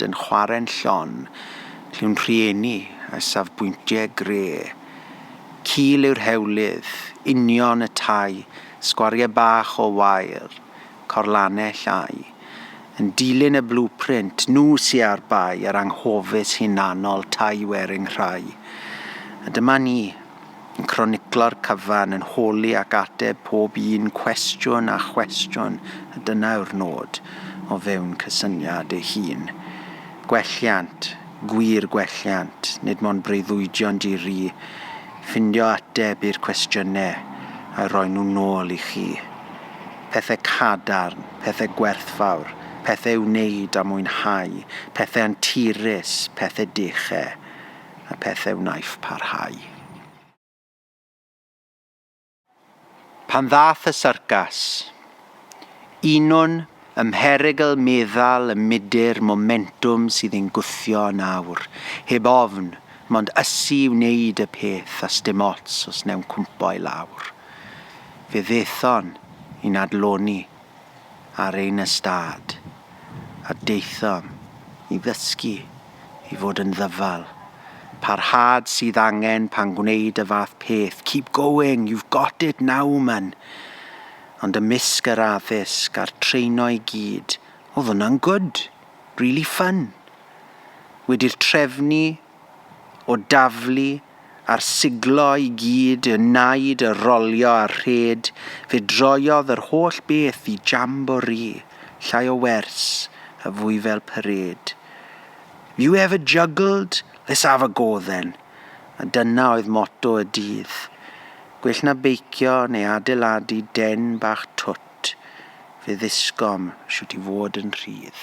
Dyn chwarren llon, lliw'n rhieni a safbwyntie gre. Cul yw'r hewlydd, union y tai, sgwarie bach o wair, corlanell au. Yn dilyn y blueprint, nhw sy â'r bai a'r anghofus hunanol tai wearing rhai. A dyma ni, Yn croniclo'r cyfan, yn holi ac ateb pob un cwestiwn a chwestiwn, a dyna yw'r nod, o fewn cysyniad ei hun. Gwelliant, gwir gwelliant, nid mond breuddwydion di-ri, ffindio ateb i'r cwestiynau a roi nhw nôl i chi. Pethau cadarn, pethau gwerthfawr, pethau i'w wneud a mwynhau, pethau anturus, pethau dechau. y pethau wnaiff parhau. Pan ddath y syrcas, unwn ym mherygl meddal y mudur momentwm sydd ein gwthio yn awr, heb ofn, mond ysu i wneud y peth a sdim ots os newn cwmpo i lawr. Fe ddethon i'n adloni ar ein ystâd a daethom i ddysgu i fod yn ddyfal. Parhad sydd angen pan gwneud y fath peth. Keep going, you've got it now, man. Ond ymysg yr addysg a'r treino i gyd, oedd hwnna'n good, really fun. Wedi'r trefnu o daflu a'r siglo i gyd y naid y rolio a rhed fe droiodd yr holl beth i jamboree, llai o wers a fwy fel parade. You ever juggled? Let's have a go then. A dyna oedd moto y dydd. Gwell na beicio neu adeiladu den bach twt, fe ddysgom shwt i fod yn rhydd.